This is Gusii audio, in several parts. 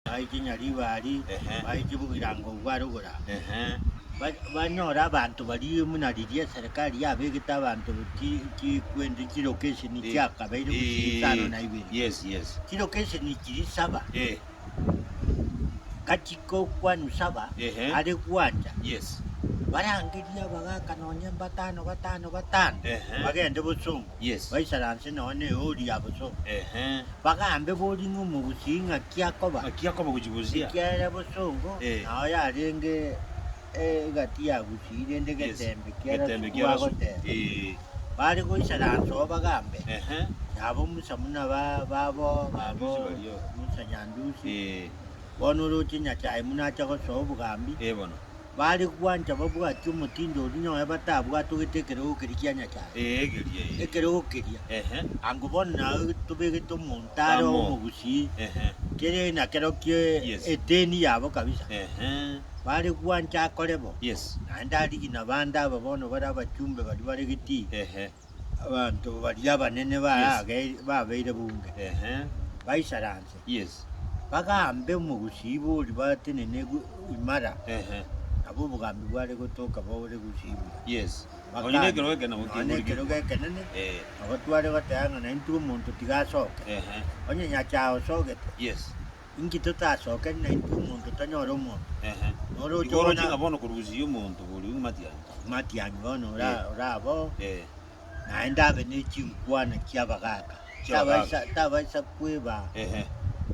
Baiche Nyaribari, baiche Bogirango obwo are igoro aa. Banyore abanto baria buna riria eserekari yabegete abanto chikwende chilokesheni chiakabeire gose isano na ibere. Chilokesheni chiria saba, gati gokwa Nusaba are gwancha, barangerie abagaka nonya mbatano batano batano bagende bosongo. Yes. baisaranse nonya neori ya boso, Ehe. bagambe bori ng'a omogusii ng'aki akoba, Ng'aki akoba gochigusia. ekiagera bosongo Eh. nao yarenge egati ya gusii, rende Yes. getembe kiarasukwa Getembe kiarasukwa. agoteba. Ee. Bare goisaransa oo bagambe, Ehe. Nabo Musa buna ba- babo Nyandusi babo, baria. Musa Nyandusi, Ee. bono oroche Nyasae buna acha gosoa obogambi, Ee bono. bare gwancha babwatie omotindo oria nonye batabwatogete ekerogo keria kia Nyasae. Ee, egeria ee. Ekerogo keria. Ehe. Ango bono nao tobegete omonto are Amo. omogusii, Ehe. kere nakero kie Yes. eteni yabo kabisa. Ehe. Bare gwancha akore bo. Yes. Naende arigie nabande aba bono bare abachumbe baria bare getii. Ehe. Abanto baria abanene Yes. baabeire bunge, Ehe. baisaranse, Yes. bagaambe omogusii oria batenene gu- imara, Ehe. nabo obogambi bware gotoka bore gusibwa. Yes. Bakana, Nonya nekerogo ekero nabo nonya kegorigwe. nekerogo ekenene, Eh. nabatware bateba ng'a naintwe omonto tiga asoke, Ehe. onye nyasae osogete, Yes. Inki totasokeri naintwe omonto tonyore omonto? Ehe. Nore oche Igo oroche ng'a ona bono korusia omonto borio matianyi. matianyi bono ora- Eh. oraba oo, Eh. naende abe ne chinkwana chi'abagaaka. Chi'abagaaka. Tabaisa- Tabaisa kweba Ehe.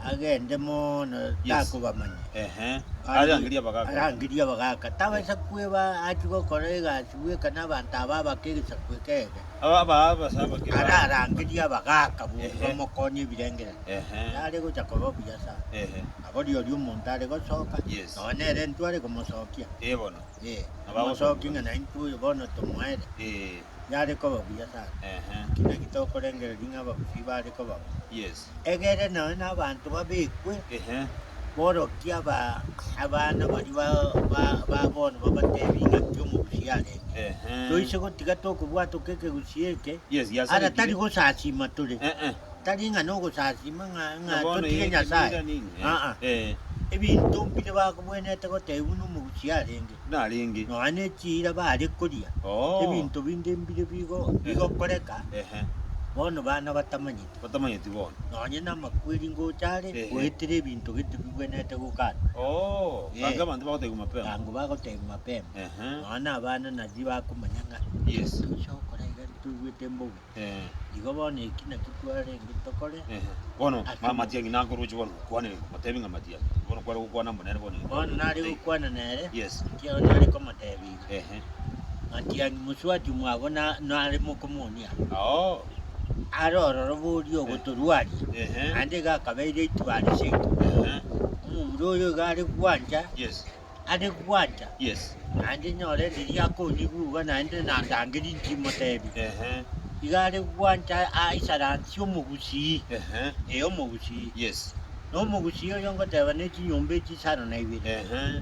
agende mono Yes. takobamanya. Ehe. Arangerie abagaaka. Arangerie abagaaka. Tabaisa kweba achie gokora egasi bweka nabanto aba abake egesaku eke eke. ararangerie abagaaka b'oria omokoonia ebirengererio, nare gocha koba obuya sana. Nabo rirorio omonto are gosoka, nonya nere intwe are komosokia, omosooki ng'a naintwe oyo bono tomoere, yare koba buya sana. Naki naki tokorengereria ng'a ababisa ibo are koba bo. Egere nonya nabaanto babekwe borokia abana baria ba bono babateebie ing'aki omobosio arenge. Toise gotiga tokobwatoka ekegusii eke, ara tari gosasiima tore, tari ng'a nogosasiima ng'a totige Nyasae, aa, ebinto mbire bakobwenerete goteebia buna omogusii arenge, nonya ne chiira baare koria, ebinto binde mbire bigokoreka bono baana batamanyeti. batamanyeti bono. Nonye namakweri ngocha are Ehe. goetera ebinto gete bigwenete gokana. Oo, Eh. gaki abanto bagotegwa mapema. Tango bagotegwa mapema. Ehe. Nonya na abana nari bakomanya ng'a Yes. tocha gokora iga ntoigwete mbobe. Eh, Igo bono eki nakio twarenge tokore. eh. Bono Ase ma- matiang'i nako roche bono gokwana ere, motebi ng'a matiang'i. Bono kware gokwana mbo nere bono. Bono nare gokwana nere. Yes. Ekiagera nare komotebia. Ehe. Matiani moswati omwabo na- nare mokomonia, Oo. are ororo boria ogotorwaria, Ehe. naende iga akabeire eituaa riseke. Ehe. Omomura oyo iga are gwancha, Yes. are gwancha, Yes. naende nyore riria akonyigugwa naende nandangerie nchimotebi. Ehe. Iga are gwancha aisaransie omogusii, Ehe. ee omogusii. Yes. Na omogusii oyo ngoteba ne chinyomba echisano na ibere. Ehe.